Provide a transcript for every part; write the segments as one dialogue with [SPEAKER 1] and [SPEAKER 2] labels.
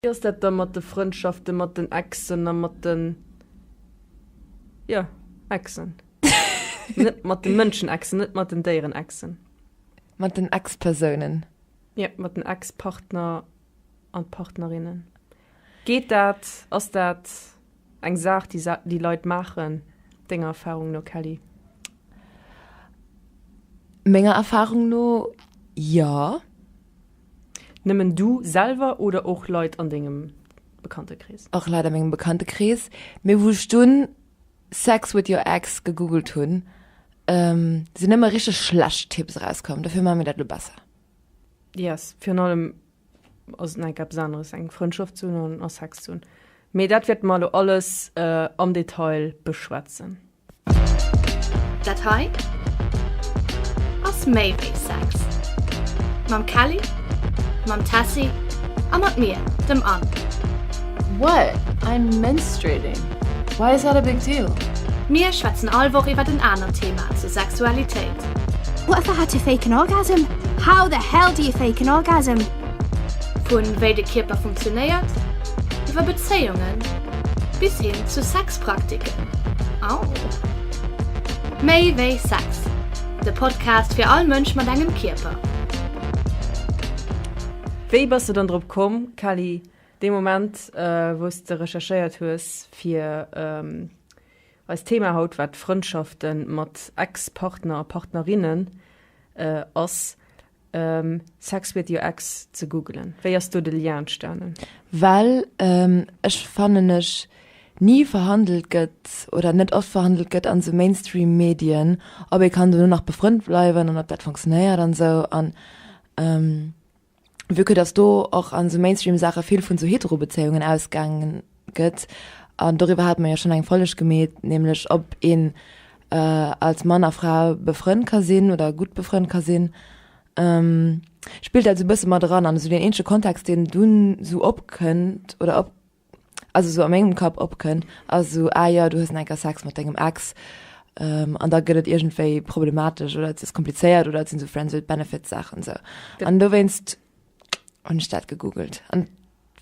[SPEAKER 1] Wéi ass dat da mat de Frëndschaften mat den Exen a mat den, jo, Exen? Net mat de Mënschen Exen, net mat den Déieren Exen. Mat den
[SPEAKER 2] Ex-Persounen. Jo, mat den
[SPEAKER 1] Ex-Partner an Partnerinnen. Geet dat? Ass dat eng Saach déi déi Leit maachen denger Erfahrung no Kelly?
[SPEAKER 2] Menger Erfahrung no, jo.
[SPEAKER 1] Nëmmen du selwer oder och Leit an dengem Bekanntekrees? Och Leit an mengem
[SPEAKER 2] Bekanntekrees, mee wou ech dunn Sex with your ex gegoogelt hunn, sinn nëmme richteg schlecht Tipps erauskomm. Dofir maache mir dat elo besser. Yes,
[SPEAKER 1] virun allem ass et nach enk eppes aneres, eng Frëndschaft ze hunn an a Sex ze hunn. Mee dat wäerte mer elo alles am Detail beschwätzen. Dat
[SPEAKER 3] hei ass méi wéi Sex. Mam Kelly, mam Tessy a mat mir, dem Anne. What?
[SPEAKER 4] I'm menstruating. Why is that a big deal? Mir schwätzen
[SPEAKER 3] all Woch iwwert en anert Thema zur Sexualitéit. What the
[SPEAKER 5] how to fake an orgasm? How the hell do you fake an orgasm? Vun
[SPEAKER 3] wéi de Kierper funktionéiert, iwwer Bezéiungen bis hin zu Sex. Praktiken. Au! Méi wéi Sex, de Podcast fir all Mënsch mat engem Kierper.
[SPEAKER 1] Wéi bass de dann drop komm, Kelly, dee Moment, wou s de recherchéiert hues fir eist Thema haut, wat d'Frëndschafte mat Ex-Partner a Partnerinne ass? Sex with your ex ze googelen. Wéi ass do de Lien entstanen? Well
[SPEAKER 2] ech fannen ech ni verhandelt gëtt oder net oft verhandelt gëtt an sou Mainstream Medien ob ee kann dono nach befrënnt bleiwen an ob dat funktionéiert an sou an vu que dass do och an sou Mainstream Saache vill vun sou Heterobezéiungen ausgaangen gëtt, an doriwwer hate mer jo schonn eng Folleg gemeet, nämlech ob een als Mann a Fra befrënnt ka sinn oder gutt befrënnt ka sinn, spillt dat esou e bësse mat eran. An esou deen eenzege Kontext, deen dunn esou opkënnt oder op, also esou a mengem Kapp opkënn, ass esou, ah jo, du hues nach eng Kéier Sex mat dengem Ex, an da gëtt et iergendwéi problematesch oder et ass komplizéiert oder et sinn esou Friends with Benefits-Saachen esou. An dowéinst hunn ech dat gegoogelt.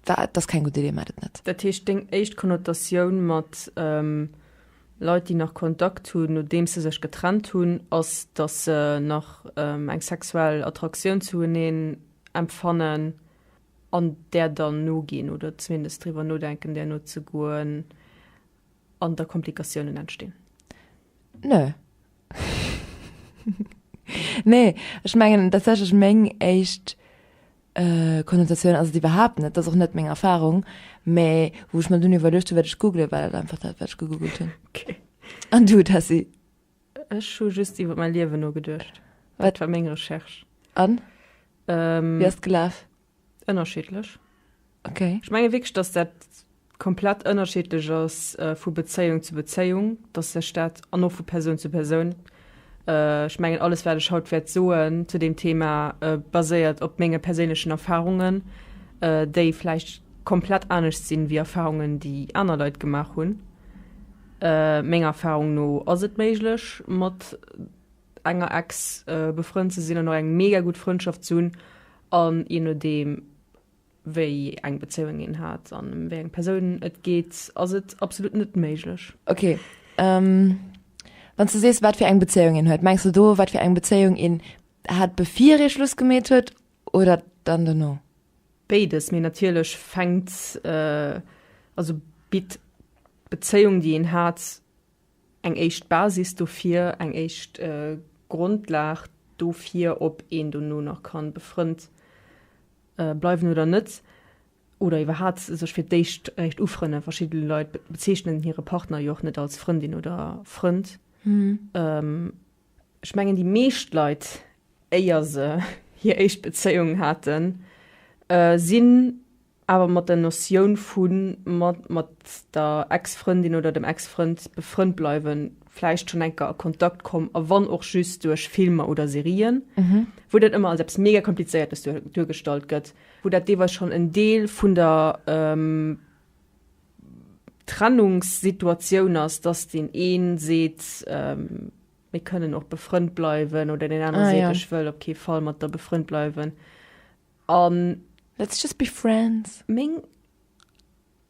[SPEAKER 2] Wat ass keng gutt Idee, maat et net. Dat heescht deng éischt
[SPEAKER 1] Konnotatioun mat Leit déi nach Kontakt hunn nodeems se sech getrennt hunn ass dass se nach eng sexuell Attraktioun zu eneen empfannen an där dann noginn oder zumindest driwwer nodenken där nozegoen an da Komplikatiounen entstinn. Nö.
[SPEAKER 2] Nee, ech mengen tatsächlech meng éischt äh, Konnotatioun ass et iwwerhaapt net, dat ass och net meng Erfahrung, mä wou ech mer dunn iwwerluecht hunn, wat ech googlen, war dat einfach dat, wat ech gegoogelt hunn. Okay. An
[SPEAKER 1] du, Tessy?
[SPEAKER 2] Ech hu
[SPEAKER 1] just iwwer mäi Liewen nogeduecht. Wat war meng Recherche? An?
[SPEAKER 2] Ähm, Wie ass gelaf? Ënnerschiddlech.
[SPEAKER 1] Okay.
[SPEAKER 2] Ech menge wierklech, datt dat
[SPEAKER 1] komplett ënnerschiddlech ass vu Bezéiung zu Bezéiung, datt sech dat an och vu Persoun zu Persoun, ech mengen alles wat ech haut wäert soen zu deem Thema baséiert op menge perséinlechen Erfarungen, déi vläicht komplett anescht sinn ewéi Erfarungen déi aner Leit gemaach hunn. Menger Erfarung no ass et méiglech mat enger Ex befrënnt ze sinn an och eng mega gutt Frëndschaft ze hunn. A je nodeem, wéi eng Bezéiung een hat an ëm wéi eng Persoun et geet, ass et absolut net méiglech. Ok.
[SPEAKER 2] Wann s du sees, wat fir eng Bezéiung een huet, mengs du do, wat fir eng Bezéiung een hat, bevir ee Schluss gemeet huet oder dann dono? Béides. Mee
[SPEAKER 1] natierlech fänkt, also bitt d'Bezéiung, déi een hat, Eng éischt Basis dofir, eng éischt Grondlag dofir, ob een dono nach ka befrënnt bleiwen oder net, oder iwwerhaat sech fir d'éischt réischt ufrënne. Verschidde Leit bezeechnen hire Partner jo och net als Frëndin oder Frënd. Ech mengen déi meescht Leit, éier se hir éischt Bezéiung haten, sinn. awer mat der Notioun vu mat der Ex-Frëndin oder dem Ex-Frënd befrënnt bleiwen, vläicht schonn enker a Kontakt komm a wann och just duerch Filmer oder Serien, wou dat ëmmer als eppes mega Komplizéiertes duergestallt gëtt, wou dat deelweis schonn en Deel vun der Trennungssituatioun ass, dass deen ee seet, mir kënnen och befrënnt bleiwen oder deen anere seet, ech wëll op kee Fall mat der befrënnt bleiwen. An Let's
[SPEAKER 2] just be
[SPEAKER 1] friends.
[SPEAKER 2] Meng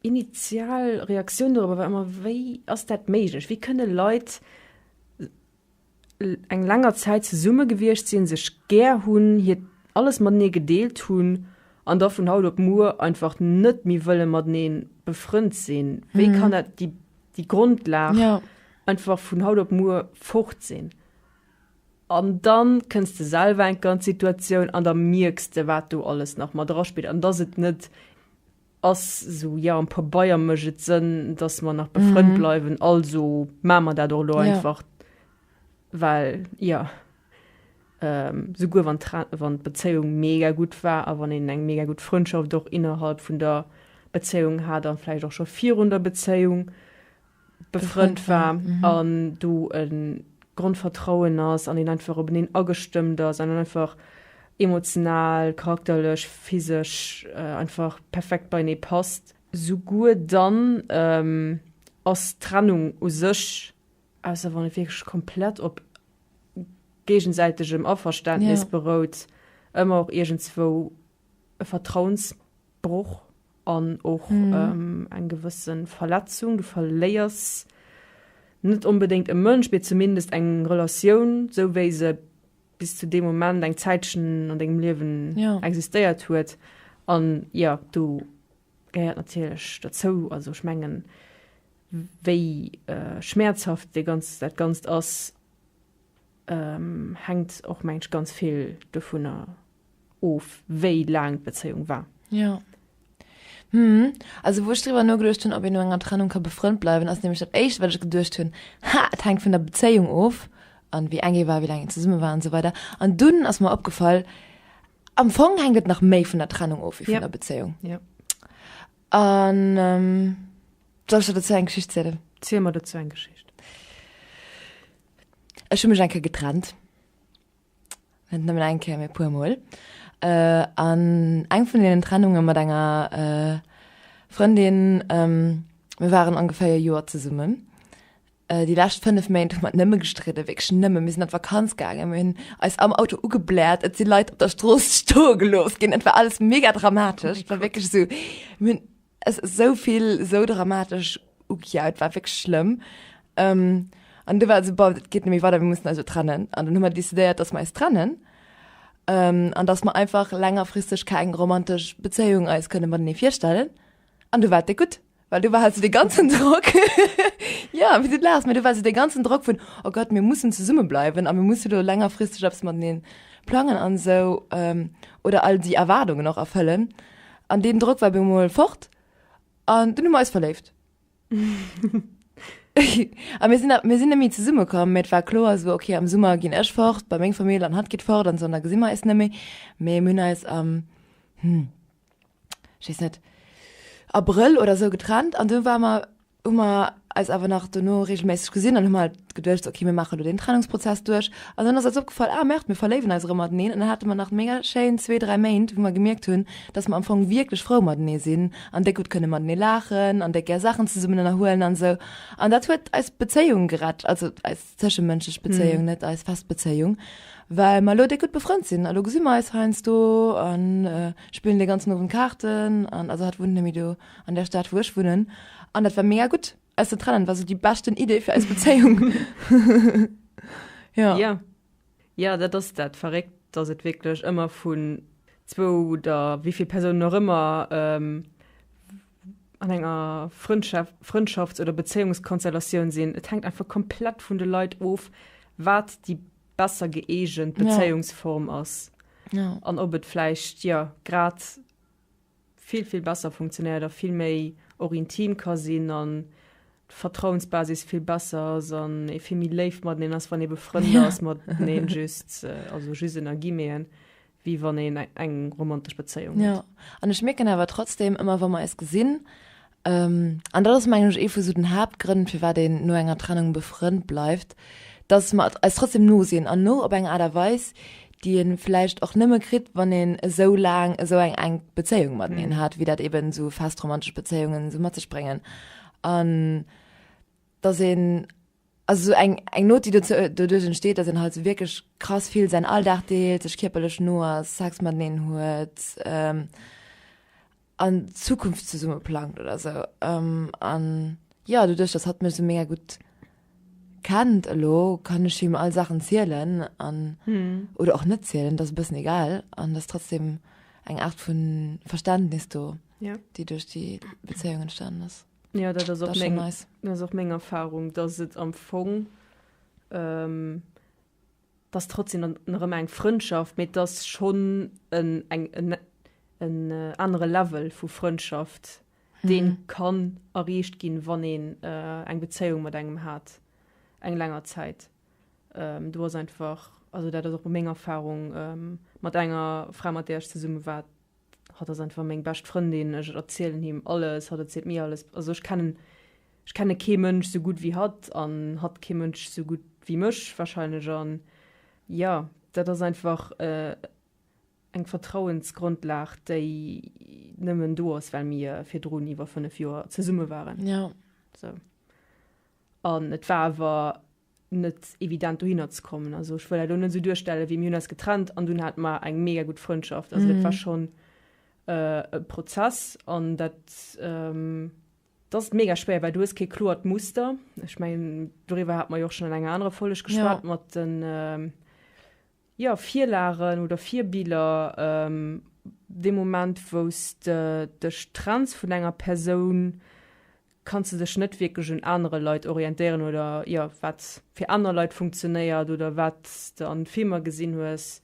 [SPEAKER 1] initial Reaktioun dorobber war ëmmer, Wéi ass dat méiglech? Wéi kënne Leit eng länger Zäit zesumme gewiescht sinn, sech gär hunn, hiert alles matenee gedeelt hunn an da vun haut op muer einfach net méi wëlle matenee befrënnt sinn? Wéi kann dat, déi Grondlag, einfach vun haut op muer fort sinn? An dann kënns de selwer enker an d'Situatioun an da mierks de wat do alles nach mat eraspillt an dass et net ass esou, jo am Pabeier mécht et Sënn dass mer nach befrënnt bleiwen, also maa mer dat och elo Ja. einfach, well jo souguer wann d'Tra wann d'Bezéiung mega gutt war a wann een eng mega gutt Frëndschaft och innerhalb vun der Bezéiung hat a vläicht och scho virun der Bezéiung, befrënnt war an do e Grondvertrauen ass an een einfach op eneen agestëmmt ass an einfach emotional, charakterlech, physesch einfach perfekt beienee passt. Souguer dann ass d'Trennung u sech, ausser wann et wierklech komplett op géigesäitegem Averständnis berout, ëmmer och iergendswou e Vertrauens. Broch an och eng gewësse Verletzung. Du verléiers net onbedéngt e Mënsch, mee zumindest eng Relatioun, sou wéi se bis zu deem Moment eng Zäitchen an dengem Liewen existéiert huet. An jo, do gehéiert natierlech derzou, also ech mengen, wéi schmäerzhaft dat Ganzt ass, hänkt och mengen ech ganz vill dovunner of wéi laang d'Bezéiung war. Jo.
[SPEAKER 2] Hm. Also wou ech driwwer nogeduecht hunn, ob een no enger Trennung ka befrënnt bleiwen, ass nämlech dat éischt, wat ech geduecht hunn, Ha, et hänkt vun der Bezéiung of an, wéi eng ee war, wéi laang een zesumme war an esou weider. An dunn ass mer opgefall, Am Fong hänkt et nach méi vun der Trennung of wéi vun der Bezéiung. Jo.
[SPEAKER 1] An
[SPEAKER 2] soll ech der dozou eng Geschicht zielen? Ziel mer dozou eng
[SPEAKER 1] Geschicht.
[SPEAKER 2] Ech hu mech eng Kéier getrennt. Net nëmmen eng Kéier, mee e puer Mol. An eng vun deenen Trennunge mat enger Frëndin, mir waren ongeféier e Joer zesummen, déi lescht fënnef Méint hu mer nëmme gestridde, wierklech nëmme. Mir sinn an d'Vakanz gaangen, mir hunn eis am Auto ugebläert, et si Leit op der Strooss stoe gelooss ginn, et war alles mega dramatesch, et war wierklech esou, mir hunn. S, Esou vill, esou dramatesch ugejaa, et war wierklech schlëmm. Ëm, An du war et esou, bon, et geet net méi weider, mir mussen eis elo trennen. An dunn hu mer decidéiert, datt mer eis trennen. Ëm, An datt mer einfach längerfristeg keng romantesch Bezéiung eis kënne matenee virstellen. An du war et déck gutt, well du war halt esou dee ganzen Drock, jo, wéi s du et laachs, mä du war esou dee ganzen Drock vun, oh Gott, mir mussen zesumme bleiwen a mir musse lo längerfristeg eppes matenee plangen an esou, oder all déi Erwaardungen och erfëllen. An deen Drock war bemol fort an dunn hu mer eis verléift. A mir sinn, mir sinn net méi zesumme komm, mä et war kloer esou, ok, am Summer ginn ech fort bei meng Famill an hatt geet fort an esou an da gesi mer eis net méi. Mä mir hunn eis am, hm, ech weess net, Abrëll oder esou getrennt an du ware mer, hu mer eis awer nach dono regelméisseg gesinn an hu mer halt geduecht, ok mir maache lo deen Trennungsprozess duerch an dann ass eis opgefall, ah merde mir verléiwen eis erëm mateneen an dann hate mer nach mega schéin zwee, dräi Méint wou mer gemierkt hunn, dass mer am Fong wierklech frou matenee sinn an déck gutt kënne matenee laachen an déck gär Saachen zesummen ënnerhuelen an esou an dat huet eis Bezéiung gerett, also eis zëschemënschlech Bezéiung, net eis fest Bezéiung, well mer elo déck gutt befrënnt sinn a lo gesi mer eis heiansdo a spillen dee ganzen Owend Kaarten an also hatt wunnt net méi do. An der Stad wou ech wunnen. An dat war mega gutt eis ze trennen, war sou déi beschten Idee fir eis Bezéiung.
[SPEAKER 1] Jo. Jo, jo dat ass dat verréckt, dass et wierklech ëmmer vun zwou oder wéi vill Persounen och ëmmer an enger Frëndschaft, Frëndschafts oder Bezéiungskonstellatioun sinn. Et hänkt einfach komplett vun de Leit of, wat déi besser gëeegent Bezéiungsform ass. Jo. An ob
[SPEAKER 2] et vläicht,
[SPEAKER 1] jo, grad vill vill besser funktionéiert a vill méi och intim ka sinn an d'Vertrauensbasis vill besser ass an ee vill méi léif mateneen ass wann ee befrënnt ass mateneen just also just ënner Guillemeten wéi wann een eng romantesch Bezéiung huet. Jo an ech mierken
[SPEAKER 2] awer trotzdem ëmmer wa mer eis gesinn An dat ass mengen ech ee vu sou den Haaptgrënn firwat een no enger Trennung befrënnt bleift, dass mer eis trotzdem no sinn an no op eng Aart a Weis déi een vläicht och nëmme kritt wann een esou laang esou eng enk Bezéiung mateneen hat wéi dat eben sou fest romantesch Bezéiungen sou mat sech bréngen an dass een also sou eng eng Nout déi dozou doduerch entsteet dass een halt sou wierklech krass vill säin Alldag deelt, sech kierperlech no ass, Sex mateneen huet. an Zukunft zesumme plangt oder sou an jo doduerch dass hatt mech sou mega gutt kennt elo kann ech him all Saachen zielen an oder och net zielen dat ass e bëssen egal an dass trotzdem eng Aart vu Verständnis do déi duerch déi Bezéiung entstanen ass. Jo dat
[SPEAKER 1] ass och
[SPEAKER 2] meng Erfahrung
[SPEAKER 1] dass et am Fong. T'ass trotzdem dann erëm eng Frëndschaft, mee t'ass schonn en anere Level vu Frëndschaft, dee kann erreecht ginn, wann een eng Bezéiung mat engem hat, eng länger Zäit. Do ass einfach, also dat ass och meng Erfarung mat enger Fra, mat där ech zesumme war, hatt ass einfach meng bescht Frëndin, ech erzielen him alles, hatt erzielt mir alles, also ech kennen, ech kenne kee Mënsch esou gutt wéi hatt an hatt kee Mënsch esou gutt wéi mech wahrscheinlech an jo, dat ass einfach eng Vertrauensgrundlag, déi nëmmen do ass, well mir virdrun iwwer 5 Joer zesumme waren. Jo. Sou. An et war awer net evident dohinner ze kommen. Also ech wëll net so duerstelle wéi mir hunn eis getrennt an dunn hat mar eng mega gut Frëndschaft. Also mm. dat war mhm. schon äh, e Prozess an dat ähm, das ist mega schwer, weil du hast kein klort Muster. Ich meine, darüber hat man ja auch schon in einer anderen Folge gesprochen ja. mit den ähm, jo, Virlagen oder Virbiller, dee Moment wou s de dech trenns vun enger Persoun, kanns de dech net wierklech un anere Leit orientéieren oder jo, wat fir aner Leit funktionéiert oder wat s de an Filmer gesinn hues.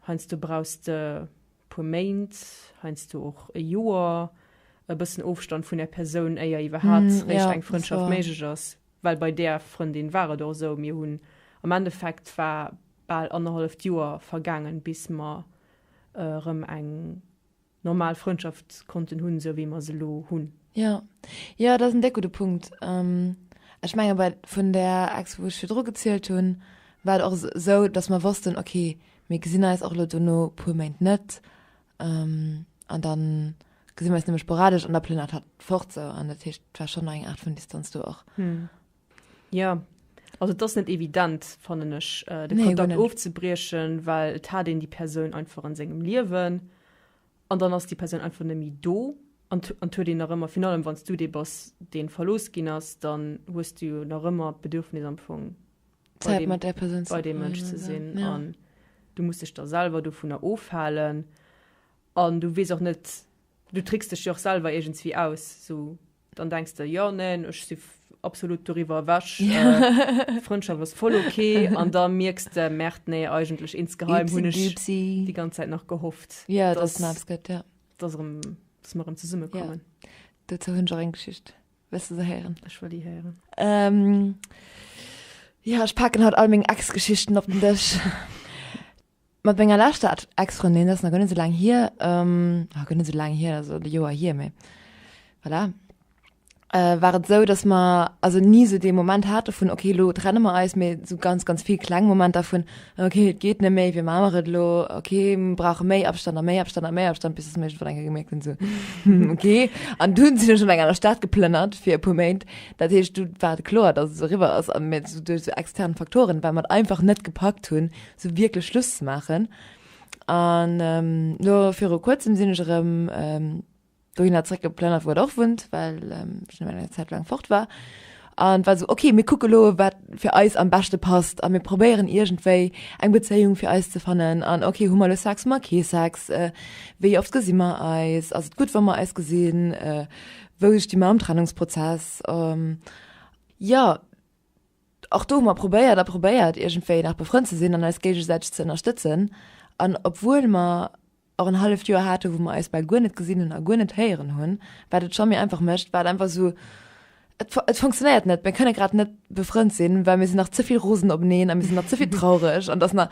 [SPEAKER 1] Heiansdo brauchs de puer Méint, heiansdo och e Joer, e bëssen Ofstand vun der Persoun, éier iwwerhaapt réischt eng Frëndschaft méiglech ass. Well bei där Frëndin war et och esou, mir hunn am Endeffekt, war bal annerhalleft Joer vergaangen, bis mer erëm eng normal Frëndschaft konnten hunn, esou wéi mer se elo hunn. Jo,
[SPEAKER 2] jo, dat ass en déck gudde Punkt. Ech menge bei vun där Ex, wou ech virdru gezielt hunn, war et och esou, datt mer wossten, okay, mir gesinn eis och elo dono puer Méint net, An da gesi mir eis nëmme sporadesch an da plënnert hat fort sou. An dat heescht, et war schonn nach eng Aart vun Distanz do och. Jo,
[SPEAKER 1] also et ass net evident, fannen ech, de Kontakt. Nee, guer net. Ofzebriechen, well et hat een déi Persoun einfach an sengem Liewen an dann ass déi Persoun einfach net méi do an an et huet een nach ëmmer, virun allem wann s du dee bass, dee verlooss ginn ass, dann hues du jo nach ëmmer d'Bedürfnis am Fong, Zäit mat där
[SPEAKER 2] Persoun bei deem Mënsch ze sinn
[SPEAKER 1] an du muss dech da selwer dovunner ofhalen an du weess och net du tricks dech jo och selwer iergends wéi aus sou dann denks de jo neen ech si absolut doriwwer ewech d'Frëndschaft ass voll ok an da mierks de merde nee eigentlech insgeheim hunn ech déi ganz Zäit nach gehofft dass
[SPEAKER 2] mer
[SPEAKER 1] erëm zesummekommen. Dozou hunn ech och
[SPEAKER 2] eng Geschicht. Wëlls du se héieren? Ech wëll déi héieren.
[SPEAKER 1] Ähm,
[SPEAKER 2] ja, ech packen haut all meng Ex-Geschichten op den Dësch. Mat menger leschter Ex-Frëndin, dat ass nach guer net esou laang hier, ähm, ah, guer net esou laang hier, also e Joer hier, mee voilà, äh, war et esou, dass mer also ni esou dee Moment hate vun okay, lo trenne mer eis, mee esou ganz, ganz vill kleng Momenter vun Ok, et geet net méi, wéi maa mer et elo? Ok, mer brauche méi Abstand a méi Abstand a méi Abstand, bis datt mer iergendwann eng Kéier gemierkt hunn, esou, hm, ok. An du hunn, sinn ech an eng aner Stad geplënnert fir e puer Méint. Dat heescht, du war kloer, datt et eriwwer ass a mir esou duerch esou extern Faktoren, well mer et einfach net gepackt hunn, esou wierklech Schluss ze maachen. An elo viru Kuerzem sinn ech erëm, dohinner zréck geplënnert, wou et och wunnt, well ech elo eng Zäit laang fort war. An et war esou, okay, mir kucke elo, wat fir eis am beschte passt a mir probéieren iergendwéi eng Bezéiung fir eis ze fannen. An okay, hu mer elo Sex, hu mer kee Sex, wéi oft gesi mer eis, ass et gutt, wa mer eis gesinn, wou sti mer am Trennungsprozess? Jo, och do hu mer probéiert a probéiert, iergendwéi nach befrënnt ze sinn an eis géigesäiteg ze ënnerstëtzen. An obwuel mer. och en halleft Joer hate wou mer eis bal guer net gesinn hunn a guer net héieren hunn, wat et Jeanny einfach mécht, wat einfach esou, et et funktionéiert net, mir kënne grad net befrënnt sinn, well mir sinn nach ze vill rosen openeen a mir sinn nach ze vill traureg an dass mer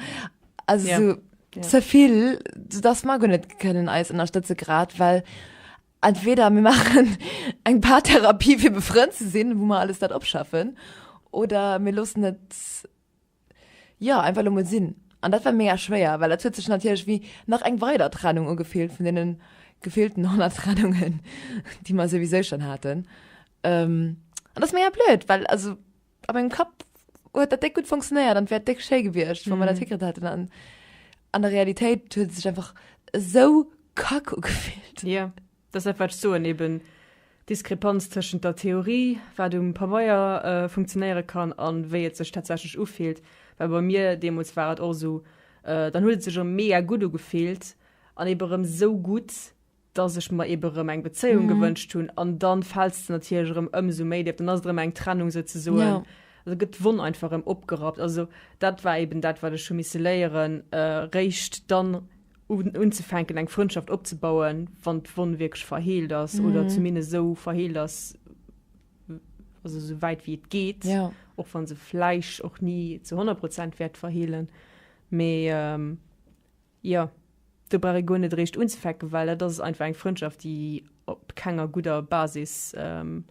[SPEAKER 2] also esou ze vill, soudass mer guer net kënnen eis ënnerstëtze grad, well entweder mir maachen eng Paartherapie fir befrënnt ze sinn, wou mer alles dat opschaffen oder mir loossen et. Jo, einfach lo mol sin. An dat war mega schwéier, well et huet sech natierlech wéi nach eng weider Trennung ugefillt vun deenen gefillten 100 Trennungen déi mer souwisou schon haten. An dat ass mega blöd, well also a mengem Kapp huet dat déck gutt funktionéiert an wär déck schéi gewiescht wann mer dat hikritt hätten an an der Realitéit huet et sech einfach esou kack ugefillt. Jo. Deshalb
[SPEAKER 1] wat ech soen, eben d'Diskrepanz tëschent der Theorie, wat um Pabeier funktionéiere kann, a wéi et sech tatsächlech ufillt. Well bei mir deemools war et och esou, dann huet et sech erëm mega gutt ugefillt an eben erëm esou gutt, dass ech mer eben erëm eng Bezéiung gewënscht hunn an dann fäls de natierlech erëm ëmsou méi déif, dann ass et erëm eng Trennung souzesoen, da gëtt d'Wonn einfach erëm opgerappt. Also dat war eben dat wat ech hu misse léieren, eréischt dann unzefänken eng Frëndschaft opzebauen, wann d'Wonn wierklech verheelt ass mm. oder zumindest esou verheelt ass, also so wäit wie et geht ja. och wann se fleisch och nie zu 100 Prozent wert verhehlen me ähm, ja du bra go net recht unzufecken weil dat ist einfach eng Freundschaft die op kenger guter Basis ähm,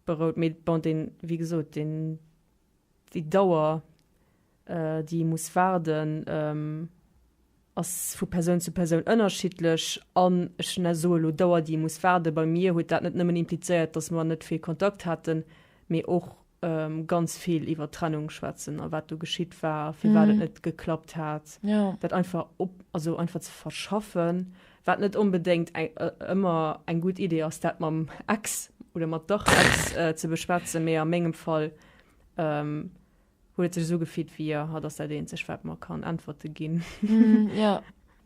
[SPEAKER 1] berout mit bon den wie gesot den Déi Dauer, déi ee muss waarden, ass vu Persoun zu Persoun ënnerschiddlech. An ech soe elo Dauer, déi ee muss waarden, bei mir huet dat net nëmmen implizéiert, datt mer net vill Kontakt haten, mee och ganz vill iwwer Trennung schwätzen a wat do geschitt war, firwat et net geklappt hat, dat einfach, also einfach ze verschaffen. Wat net onbedéngt ëmmer eng gutt Idee ass, dat mam Ex oder mat der Ex ze beschwätzen, mee a mengem Fall huet et sech esou gefit, wéi a hatt ass dat eenzegt, wat mer kann Äntwerte ginn.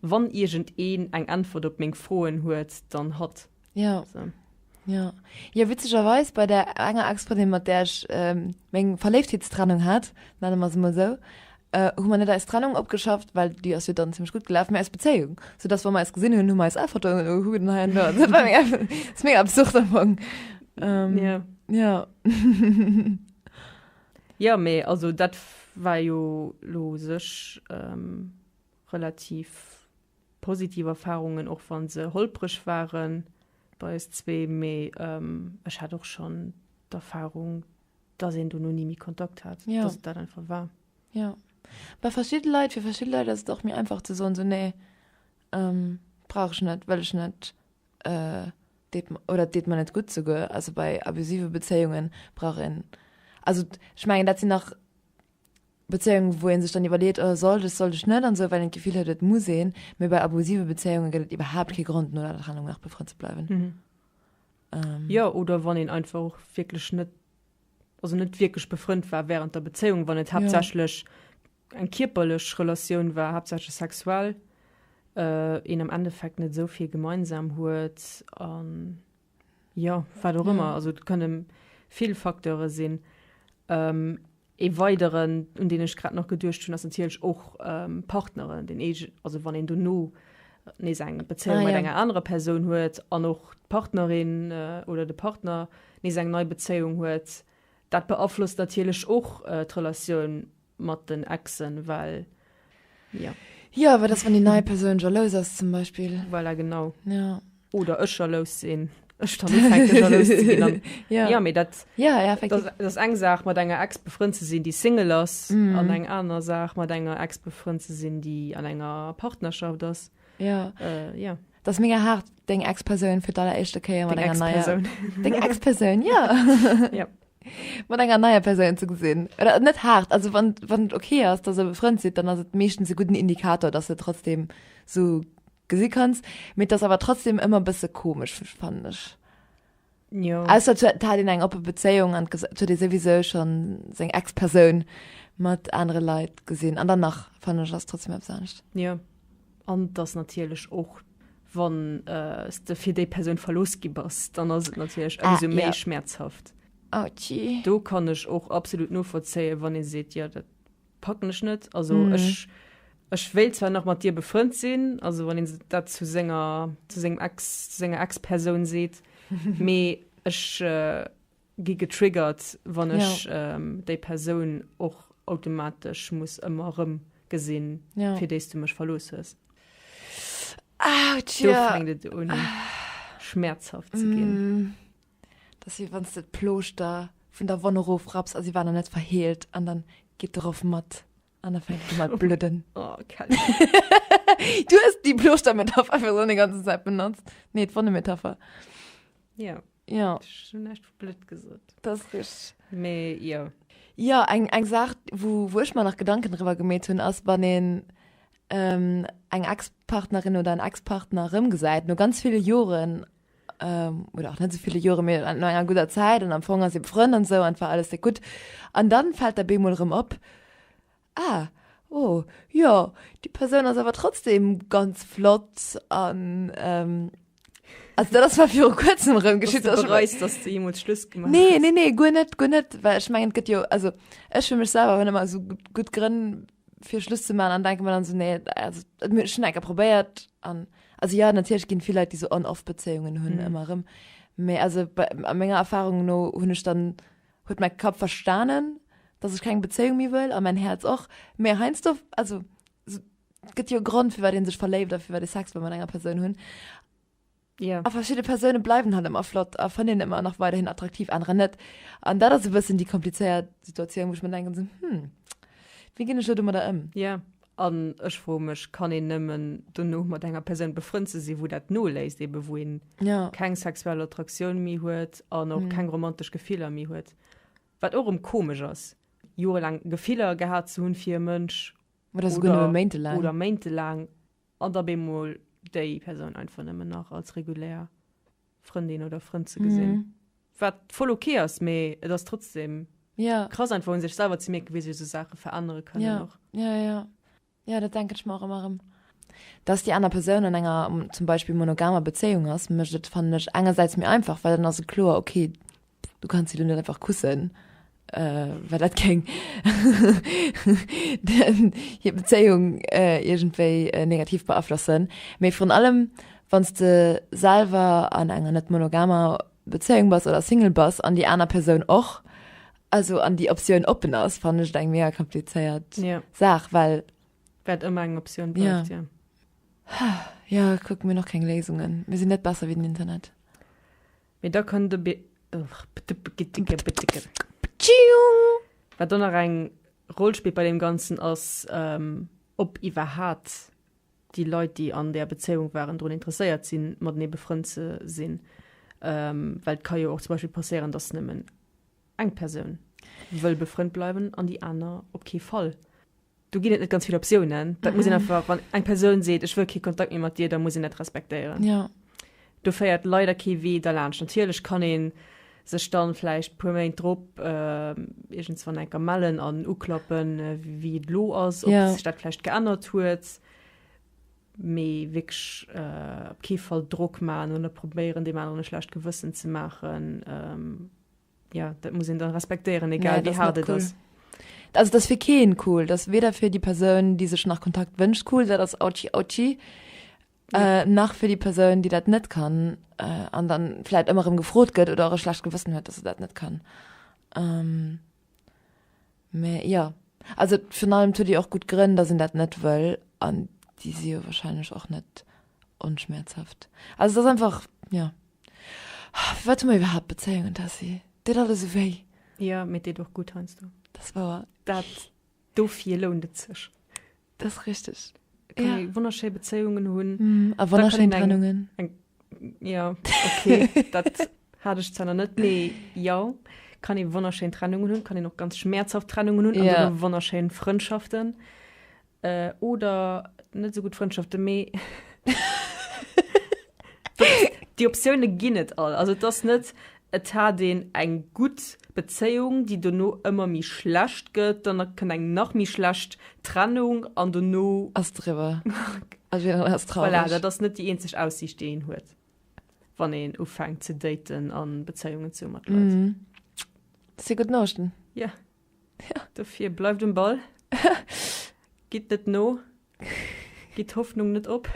[SPEAKER 2] Wann
[SPEAKER 1] iergendeen eng Äntwert op meng Froen huet, dann hatt. Ja. So.
[SPEAKER 2] Ja. Ja, witzegerweis bei der enger Expotin, mat der ech ähm, meng Verléiftheetstrennung hat, nenne mer se mal so, äh, hu man net als Trennung opgeschafft, weil die ass jo dann ziemlich gut gelaf mé als Bezéiung. So dass wann mer eis gesinn hunn, hu mer eis einfach do äh, hu den heien da. Dat war mega- das ist mega absurd am Fong. Ähm, Ja.
[SPEAKER 1] Ja. Ja, mee also dat war jo lo sech ähm, relativ Positiv Erfahrungen, och wann se holpreg waren bei eis zwee, mee ech hat och schonn d'Erfahrung, dass een dono ni méi Kontakt hat, dass et dat einfach war. Jo,
[SPEAKER 2] bei verschidde Leit, fir verschidde Leit ass et och méi einfach ze soen, esou nee, brauch ech net, wëll ech net, deet oder et deet mer net gutt. Souguer also bei abusive Bezéiungen brauch een, also ech mengen dat sinn nach, Bezéiung wou een sech dann iwwerleet, oh sollt ech, sollt ech net an esou, well een d'Gefill huet et muss een, mee bei abusive Bezéiunge gëtt et iwwerhaapt kee Grond no der Trennung nach befrënnt ze bleiwen. Ähm.
[SPEAKER 1] Jo, oder wann een einfach och wierklech net, also net wierklech befrënnt war während der Bezéiung, wann et haaptsächlech eng kierperlech Relatioun war, haaptsächlech sexuell, een am Endeffekt net esou vill gemeinsam huet an. Jo, wat och ëmmer, also et kënne vill Facteure sinn. Ee weideren, un deen ech grad nach geduecht hunn, ass natierlech och Partneren, deen eege, also wann een dono nees eng Bezéiung mat enger anerer Persoun huet an och d'Partnerin oder de Partner nees eng nei Bezéiung huet, dat beaflosst natierlech och d'Relatioun. mat den Exen well jo. Jo wat ass
[SPEAKER 2] wann déi nei Persoun jalous ass zum Beispill? Voilà genau ja.
[SPEAKER 1] Oder
[SPEAKER 2] ech jalous
[SPEAKER 1] sinn. eng Saach mat enger ex befrënnt ze sinn, déi Single ass mm. an eng aner Saach mat enger ex befrënnt ze sinn, déi an enger Partnerschaft ass. Ja. Äh,
[SPEAKER 2] ja. Das
[SPEAKER 1] mega hart
[SPEAKER 2] deng ex Persoun fir aller echte Käier mat enger neier Deng ex Persoun ja. ja.
[SPEAKER 1] mat enger neier
[SPEAKER 2] Persoun ze gesinn. Oder net hart, also wann wann et okay ass, dass e befrënnt sidd, dann ass et meeschtens e gudden Indikator, dass de trotzdem so gesi kanns. Mee et ass awer trotzdem ëmmer e bësse komesch, fannen ech. Jo.
[SPEAKER 1] Ausser et huet- hat
[SPEAKER 2] een eng oppe Bezéiung an ges- et huet ee souwisou schon seng Ex-Persoun mat anere Leit gesinn. An dann nach, fannen ech, ass trotzdem eppes anescht. Jo.
[SPEAKER 1] An dass natierlech och wann s de fir déi Persoun verlooss gi bass, dann ass et natierlech ëmsou ah, méi ja. schmäerzhaft. Ouchie. Ah,
[SPEAKER 2] Do kann ech och
[SPEAKER 1] absolut novollzéien, wann ee seet, ja dat packen ech net. Also mm. ech, ech wéilt zwar nach mat dir befrënnt sinn, also wann een dat zu senger zu sengem Ex zu senger Ex-Persoun seet, mee ech äh, gi getriggert wann ech déi Persoun och automatesch muss ëmmer erëm gesinn fir déis du mech verlooss hues. Do
[SPEAKER 2] fänkt et un
[SPEAKER 1] schmäerzhaft ze ginn. Dat ass wéi
[SPEAKER 2] wann s de d'Plooschter vun der Wonn erofrapps a si war nach net verheelt an dann geet de Roff mat an da fänkt un mat bludden. Du hues déi Plooschter-Metapher einfach esou déi ganze Zäit benotzt. Nee, d'Wonne-Metapher. Jo.
[SPEAKER 1] Ja. Ech
[SPEAKER 2] hun näischt blöd
[SPEAKER 1] gesot. Dat ass richteg.
[SPEAKER 2] Mee jo.
[SPEAKER 1] Jo, eng, eng
[SPEAKER 2] Saach, wou, wou ech mer nach Gedanken driwwer gemeet hunn, ass, wann een ähm, eng Ex-Partnerin oder en Ex-Partner erëmgesäit, no ganz ville Joren, ähm, oder och net so ville Jore, mee no enger gudder Zäit, an am Fong ass ee befrënn an esou, an et war alles déck gutt. An dann fält der bemol erëm op, Ah, oh, jo, déi Persoun ass awer trotzdeem ganz flott an, ähm, also dat ass zwar viru kuerzem erëm geschitt, dass du bereust, dass du
[SPEAKER 1] jeemools Schluss gemaach hues. Nee, nee, nee, guer net,
[SPEAKER 2] guer
[SPEAKER 1] net,
[SPEAKER 2] well ech mengen, et gëtt jo, also ech fir mech selwer hunn ëmmer esou gutt Grënn fir Schluss ze maachen an denke mer dann esou, nee, also et muss, ech hunn enker probéiert an, also jo, natierlech ginn vill Leit, déi esou On-Off-Bezéiungen hunn, ëmmer erëm, mä also bei, a menger Erfahrung no hunn ech dann huet mäi Kapp verstanen, dass ech keng Bezéiung méi wëll, a mäin Häerz och, mä heiansdo, also et gëtt jo e Grond, firwat ee sech verléift a firwat ee Sex wëll mat enger Persoun hunn.
[SPEAKER 1] Yeah. A verschidde Persoune
[SPEAKER 2] bleiwen halt ëmmer flott a fannen een ëmmer nach weiderhin attraktiv, anerer net. An dat ass e bëssen déi komplizéiert Situatioun, wou ech mir denken, hm, wéi ginn ech elo domadder ëm? Yeah. An
[SPEAKER 1] ech froe mech, kann een nëmmen dono mat enger Persoun befrënnt ze sinn, wou dat noléisst, ebe wou een keng sexuell Attraktioun méi huet an och keng romantesch Gefiller méi huet, wat och erëm komesch ass, jorelaang Gefiller gehat ze hunn fir e Mënsch
[SPEAKER 2] oder méintelaang
[SPEAKER 1] an da bemol déi Persoun einfach nëmmen nach als regulär. Frëndin oder Frënd ze gesinn. Mm. Wat voll ok ass, mee et ass trotzdem ja. krass einfach un sech selwer ze mierken, wéi sech so Sache verännere kënnen. Ja. Och. ja, ja.
[SPEAKER 2] Ja, dat denke ich mar ëmmer ëm. Dass déi aner Persoun an enger zum Beispill monogamer Bezéiung ass, mécht et fannen ech engersäits méi einfach, well dann ass et kloer, okay, Du kanns se du net einfach kussen, well dat kéng hir Bezéiung iergendwéi negativ beaflossen. Mee virun allem, wann s de selwer an enger net monogamer Bezéiung bass oder Single bass an déi aner Persoun och, also an déi Optioun oppen ass, fannen ech et eng mega komplizéiert Saach, well. Well et ëmmer eng
[SPEAKER 1] Optioun bleift, jo.
[SPEAKER 2] Jo, kucke mir nach keng Léisungen. Mir sinn net besser wéi den Internet. Mee da
[SPEAKER 1] kënnt e Wat do nach eng Roll spillt bei deem Ganzen ass, ob iwwerhat déi Leit, déi an där Bezéiung waren, drun interesséiert sinn, matenee befrënnt ze sinn. Well et ka jo och zum Beispill passéieren, dass nëmmen eng Persoun wëll befrënnt bleiwen an déi aner op kee Fall. Do ginn et net ganz vill Optiounen. Dat muss een einfach, wann eng Persoun seet, ech wëll kee Kontakt méi mat dir, da muss een dat respektéieren. Ja.
[SPEAKER 2] Do féiert
[SPEAKER 1] leider kee Wee derlaanscht. Natierlech kann ee sech dann vläicht e puer Méint drop iergendswann eng Kéier mellen an uklappen, wéi et elo ass, ob sech dat vläicht geännert huet. Mee wierklech op kee Fall Drock maachen oder probéieren, deem aneren e schlecht Gewëssen ze maachen. Ja, dat muss een dann respektéieren, egal wéi haart et ass. Also dat ass fir
[SPEAKER 2] keen cool, dat ass weder fir déi Persoun, déi sech nach Kontakt wënscht cool, dat ass autschi autschi, äh, nach fir déi Persoun, déi dat net kann äh, an dann vläit ëmmer erëm gefrot gëtt oder och e schlecht Gewëssen huet, dass se dat net kann. Ähm, mä ja, also virun allem huet déi och gutt Grënn, dass een dat net wëll an déi si jo warscheinlech och net onschmäerzhaft. Also et ass einfach, ja. Wat hu mer iwwerhaapt Bezéiungen, Tessy? Deet alles esou wéi. Jo, mee et deet och
[SPEAKER 1] gutt heiansdo. Dat ass wouer. Dat dofir lount et sech. Dat ass richteg.
[SPEAKER 2] Et kann ee wonnerschéi
[SPEAKER 1] Bezéiungen hunn. A wonnerschéi Trennungen.
[SPEAKER 2] Jo,
[SPEAKER 1] okay, dat hat ech zwar nach net, mee jo, et kann ee wonnerschéi Trennungen hunn, et kann een och ganz schmäerzhaft Trennungen hunn, an dann och wonnerschéi Frëndschaften. Oder net esou gutt Frëndschaften, mee déi Optioune ginn et all. Also et ass net, et hat een eng gutt Bezéiung, déi dono ëmmer méi schlecht gëtt, dann kënnt eng nach méi schlecht Trennung an dono. Ass driwwer.
[SPEAKER 2] Voilà, dat ass net déi eenzeg
[SPEAKER 1] Aussiicht, déi een huet, wann een ufänkt ze daten a Bezéiungen ze hu mat Leit. Dat si
[SPEAKER 2] gutt Norichten. Yeah.
[SPEAKER 1] Dofir bleift um Ball, gitt net no, gitt d'Hoffnung net op,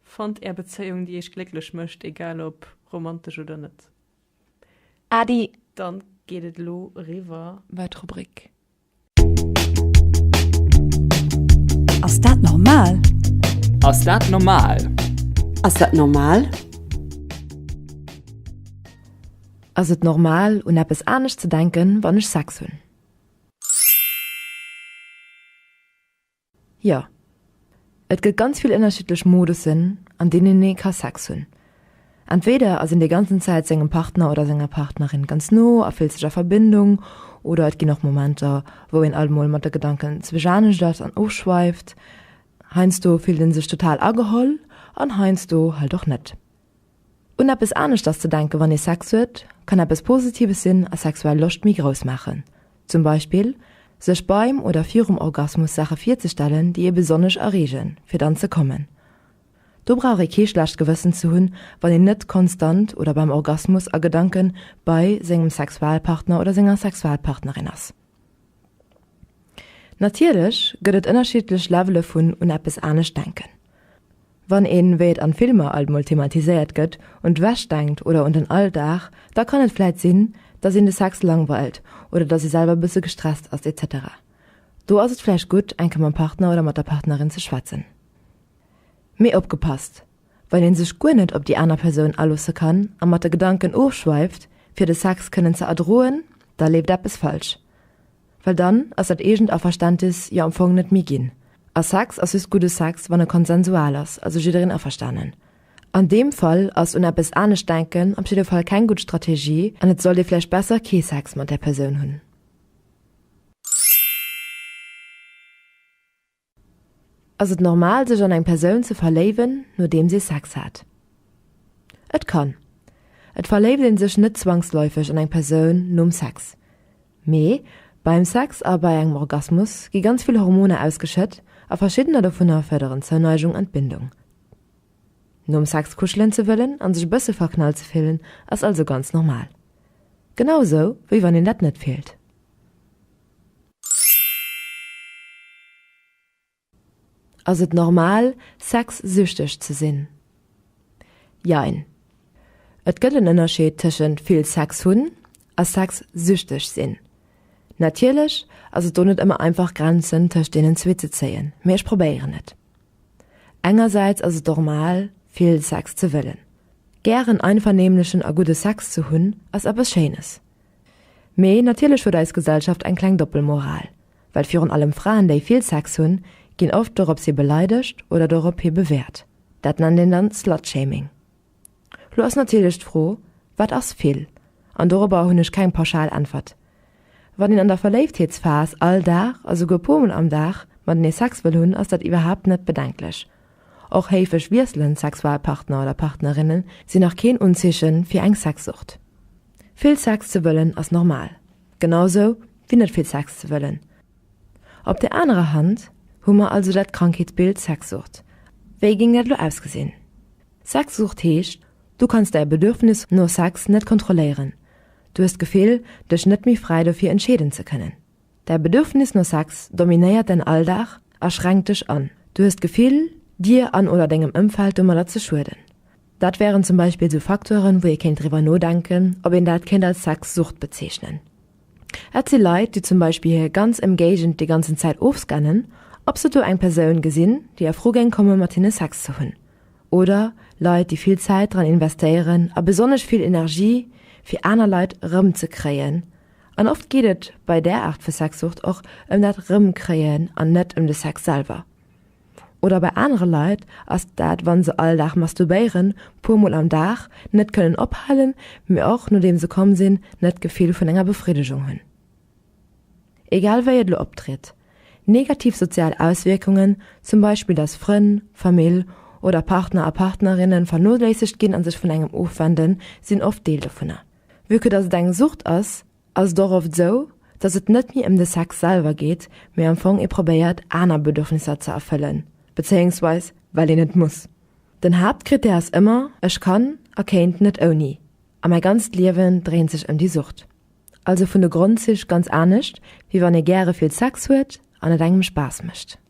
[SPEAKER 1] fannt Är Bezéiung, déi Iech glécklech mécht, egal ob romantesch oder net. Adi!
[SPEAKER 2] Dann
[SPEAKER 1] geet et elo eriwwer bei d'Rubrik.
[SPEAKER 6] Ass dat normal? Ass dat
[SPEAKER 7] normal? Ass dat
[SPEAKER 6] normal?
[SPEAKER 2] Ass et normal un eppes anescht ze denken wann ech Sex hunn? Jo. Et gëtt ganz vill ënnerschiddlech Modussen an deenen ee ka Sex hunn. Entweder ass een déi ganzen Zäit sengem Partner oder senger Partnerin ganz no a fillt sech a Verbindung, oder et ginn och Momenter wou een alt mol mat de Gedanken zwësch anescht ass an ofschweift. Heiansdo fillt een sech total ageholl an heiansdo halt och net. Un eppes aneschters ze denken, wann ee Sex huet, kann eppes Positives sinn a sexuell Loscht méi grouss maachen. Zum Beispill sech beim oder virum Orgasmus Saache virzestellen, déi ee besonnesch erreegen, fir dann ze kommen. Do brauch ee kee schlecht Gewëssen ze hunn, wann een net konstant oder beim Orgasmus a Gedanken bei sengem Sexualpartner oder senger Sexualpartnerin ass. Natierlech gëtt et ënnerschiddlech Levele vun un eppes anescht denken. Wann een, wéi et an Filmer alt mol thematiséiert gëtt, un d'Wäsch denkt oder un den Alldag, da kann et vläit sinn, dass een de Sex langweilt oder dass ee selwer e bësse gestresst ass, etc. Do ass et vläicht gutt, enke mam Partner oder mat der Partnerin ze schwätzen. Mee opgepasst! well een sech guer net op déi aner Persoun aloosse kann a mat de Gedanken ofschweift, fir de Sex kënnen ze erdroen, da leeft eppes falsch. Well dann ass dat eegent Averständnis jo am Fong net méi ginn. A Sex ass just gudde Sex, wann e konsensual ass, also jiddereen averstanen. An deem Fall ass un eppes anescht denken op jidde Fall keng gutt Strategie an et sollt ee vläicht besser kee Sex mat där Persoun hunn. Ass et normal sech an eng Persoun ze verléiwen nodeems ee Sex hat? Et kann. Et verléift een sech net zwangsläufeg an eng Persoun nom Sex. Mee beim Sex a bei engem Orgasmus gi ganz vill Hormoner ausgeschëtt a verschiddener dovunner fërderen Zouneigung an d'Bindung. Nom Sex kuschelen ze wëllen an sech e bësse verknallt ze fillen ass also ganz normal. Genau esou wéi wann een dat net fillt. Ass et normal, sexsüchteg ze sinn? Jein. Et gëtt en Ënnerscheed tëschent vill Sex hunn a sexsüchteg sinn. Natierlech ass et do net ëmmer einfach Grenzen tëscht deenen zwee ze zéien, mee ech probéieren et. Engersäits ass et normal, vill Sex ze wëllen. Gären einvernehmlechen a gudde Sex ze hunn ass eppes Schéines. Mee natierlech huet eis Gesellschaft eng kleng Doppelmoral, well virun allem Fraen, déi vill Sex hunn, ginn oft dorops hi beleidegt oder dorop hi bewäert. Dat nennt een dann Slutshaming. Lo ass natierlech d'Fro, Wat ass vill? An dorobber hunn ech keng pauschal Äntwert. Wann een an der Verléiftheetsphas all Dag a souguer puermol am Dag matenee Sex wëll hunn, ass dat iwwerhaapt net bedenklech. Och héifeg wiesselend Sexualpartner oder partnerinne sinn nach keen Unzeeche fir eng Sexsucht. Vill Sex ze wëllen ass normal, genau sou wéi net vill Sex ze wëllen. Op der anerer Hand hu mer also dat Krankheetsbild Sexsucht. Wéi géing dat elo ausgesinn? Sexsucht heescht, du kanns däi Bedürfnis no Sex net kontrolléieren, du hues d'Gefill, dech net méi fräi dofir entscheeden ze kënnen. Däi Bedürfnis no Sex dominéiert däin Alldag a schränkt dech an. Du hues d'Gefill, dir an oder dengem Ëmfeld domadder ze schueden. Dat wären zum Beispill sou Facteuren, wou ee kéint driwwer nodenken, ob een dat kéint als Sexsucht bezeechnen. Et si Leit, déi zum Beispill hir ganz Emgéigend déi ganzen Zäit ofscannen, ob se do eng Persoun gesinn, déi a Fro géing komme mat hinne Sex ze hunn. Oder Leit, déi vill Zäit dran investéieren a besonnesch vill Energie, fir aner Leit erëmzekréien. An oft geet et bei där Aart vu Sexsucht och ëm dat Rëmkréien an net ëm de Sex selwer. Oder bei anere Leit ass dat, wa se all Dag masturbéieren, puer Mol am Dag, net kënnen ophalen, mee och nodeem se komm sinn, net d'Gefill vun enger Befriddegung hunn. Egal wéi et elo optritt, negativ sozial Auswierkungen, zum Beispill datt Frënn, Famill oder Partner a Partnerinne vernoléissegt ginn a sech vun engem ofwenden, sinn oft Deel dovunner. Vue que dass et eng Sucht ass, ass et och oft esou, dass et net méi ëm de Sex selwer geet, mee am Fong ee probéiert aner Bedürfnisser ze erfëllen, bezéiungsweis well een et muss. Den Haaptkrittär ass ëmmer, ech kann a kéint net ouni, a mäi ganzt Liewen dréint sech ëm déi Sucht. Also vun de Grondzich ganz anescht, wéi wann ee gäre vill Sex huet an et engem Spaass mécht.